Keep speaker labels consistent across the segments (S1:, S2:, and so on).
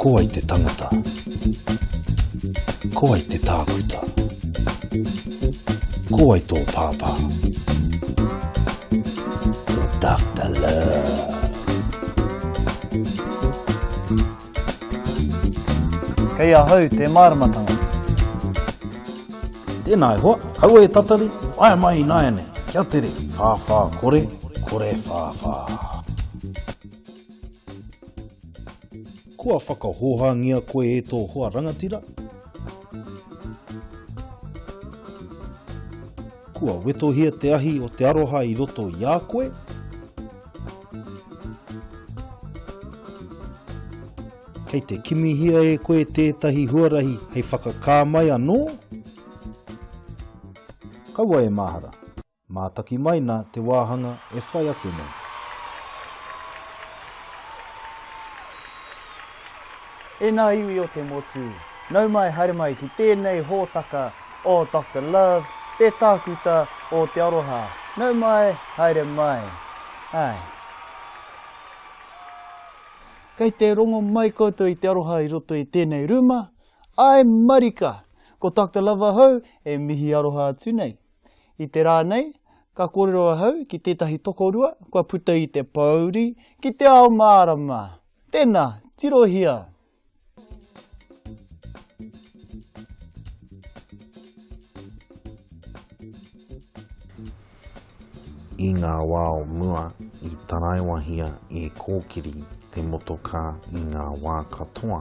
S1: Ko wai te tangata? Ko wai te tākuta? Ko wai tō pāpā? Ko Doctor Love. Kei ahau te māramatanga. Tēnā e hoa, kaua e tatari, waea mai ināianei, kia tere, whāwhā kore, kore whāwhā. Kua whakahōhāngia koe e tō hoa rangatira? Kua wetohia te ahi o te aroha i roto i a koe? Kei te kimihia e koe tētahi huarahi hei whakakā mai anō? Kaua e mahara, mātaki mai nā te wāhanga e whai ake nei. E ngā iwi o te motu, nau mai haere mai ki tēnei hōtaka o Doctor Love, te tākuta o te aroha. Nau mai, haere mai. Ae. Kei te rongo mai koutou i te aroha i roto i tēnei rūma? Ae marika! Ko Doctor Love ahau e mihi aroha atu nei. I te rā nei, ka kōrero ahau ki tētahi tokorua kua puta i te pōuri ki te ao mārama. Tena, tirohia! I ngā wā o mua, i taraiwahia e Kōkiri te motokā i ngā wā katoa.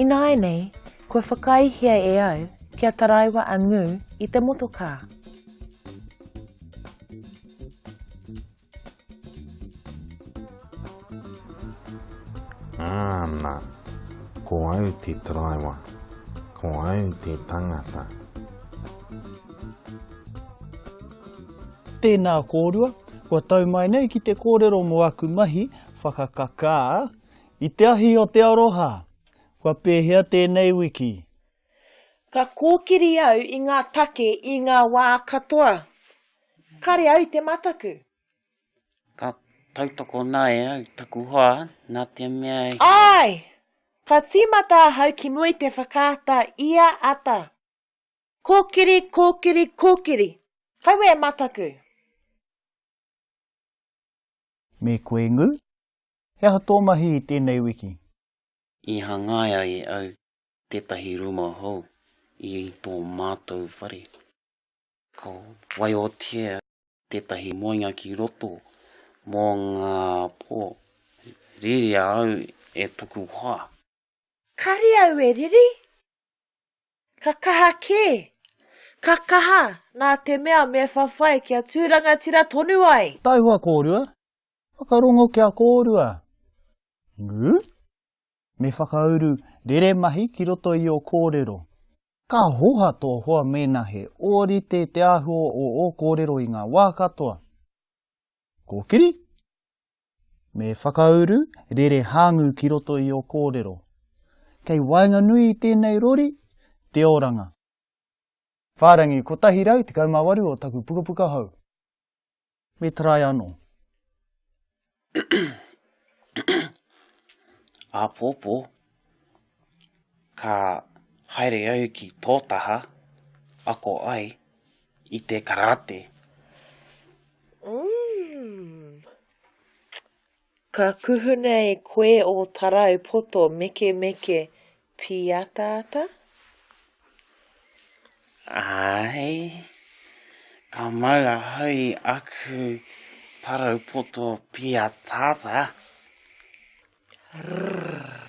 S1: Ināianei, Kua whakaaehia e au kia taraiwa a Ngū i te motokā. Āna, ko au te taraiwa, ko au te tangata. Tēnā kōrua, kua tau mai nei ki te kōrero mō aku mahi whakakakā i te ahi o te aroha. Kua pēhea tēnei wiki? Ka kōkiri au i ngā take i ngā wā katoa. Kare au i te mataku. Ka tautoko nae au i taku hoa, nā te mea he. Āe! Ka tīmata ahau ki mua i te whakaata i a Ata. Kōkiri, kōkiri, kōkiri! Kaua e mataku! Me koe Ngū? He aha tō mahi i tēnei wiki? I hangaia e au tētahi rūma hou i tō mātou whare. Ka waiotia tētahi moenga ki roto mō ngā pō. Riri au e toku hoa. Kāre au e riri. Ka kaha kē. Ka kaha, nā te mea me whawhai kia tū rangatira tonu ai. Taihoa kōrua, Whakarongo kia kōrua. Ngū? Me whakauru rere mahi ki roto i ō kōrero. Ka hoha tō hoa mēnā he ōrite te āhua o ō kōrero i ngā wā katoa. Kōkiri? Me whakauru rere hāngū ki roto i ō kōrero. Kei waenganui i tēnei rori, te oranga. Whārangi 118 o taku pukapuka hou. Me try ano. Apopo, ka haere au ki to taha, ako ai i te karate. Umm. Ka kuhuna e koe ō tarau poto mekemeke pīataata? Āe. Ka mau ahau i aku tarau poto pīataata. Rrrr.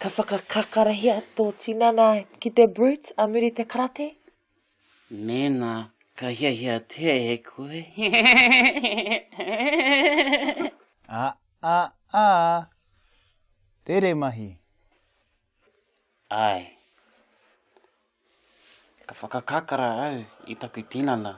S1: Ka whakakakarahia tō tinana ki te brute a muri te karate? Mēnā ka hiahiatia e koe. A a a! Rere mahi! Āe. Ka whakakakara au i taku tinana.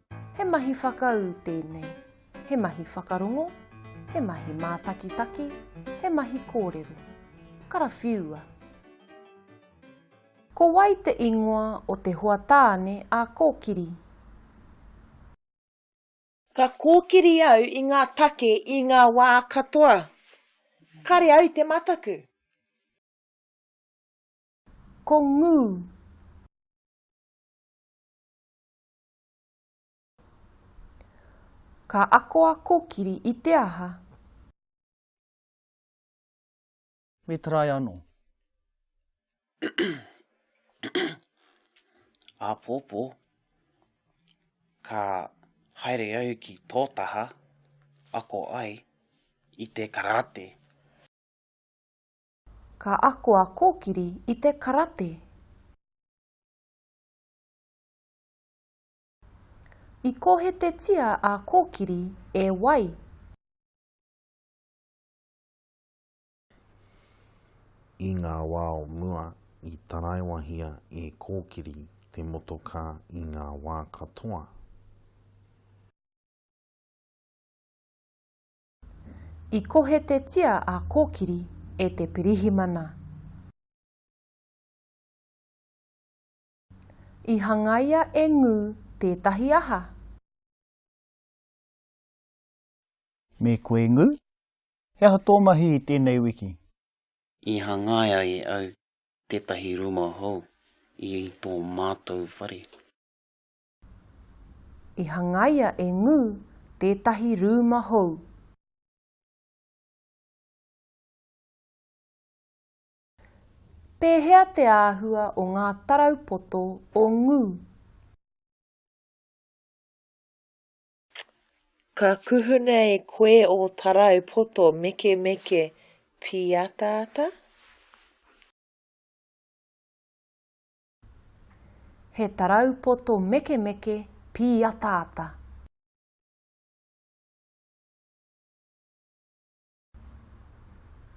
S1: He mahi whakaū tēnei, he mahi whakarongo, he mahi mātakitaki, he mahi kōrero. Karawhiua! Ko wai te ingoa o te hoa tāne a Kōkiri? Ka kōkiri au i ngā take i ngā wā katoa. Kare au i te mataku. Ko ngū. Ka ako a Kokiri i te aha? Me try ano. Apopo, ka haere au ki to taha, ako ai i te karate. Ka ako a Kokiri i te karate. I kōhetetia a Kōkiri e wai? I ngā wā o mua, i taraiwahia e Kōkiri te motokā i ngā wā katoa. I kōhetetia a Kōkiri e te pirihimana. I hangaia e Ngū tētahi aha? Me koe Ngū? He aha tō mahi i tēnei wiki? I hangaia e au tētahi rūma hou i tō mātou whare. I hangaia e Ngū tētahi rūma hou. Pēhea te āhua o ngā tarau poto o Ngū? Ka kuhuna e koe ō tarau poto mekemeke pīataata? He tarau poto mekemeke pīataata.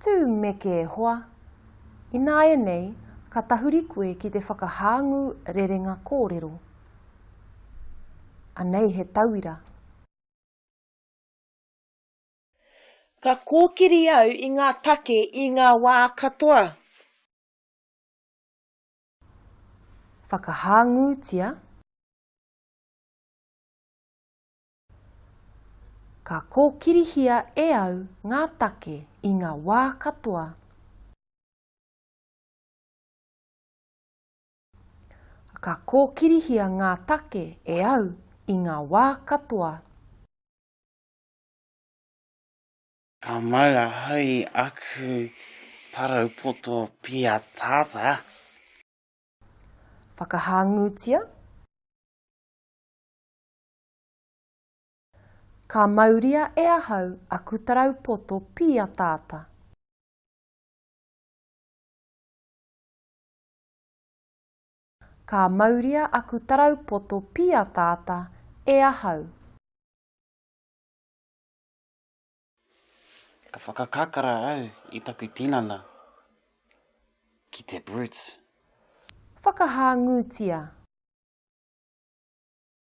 S1: Tū meke e hoa! Ināianei ka tahuri koe ki te whakahāngū rerenga kōrero. Anei he tauira. Ka kōkiri au i ngā take i ngā wā katoa. Whakahāngūtia. Ka kōkirihia e au ngā take i ngā wā katoa. Ka kōkirihia ngā take e au i ngā wā katoa. Ka mau ahau i aku tarau poto piatata. Whakahāngūtia. Ka mauria e ahau aku tarau poto pīataata. Ka mauria aku tarau poto pīataata e ahau. Ka whakakakara au i taku tinana ki te Brutes. Whakahāngūtia.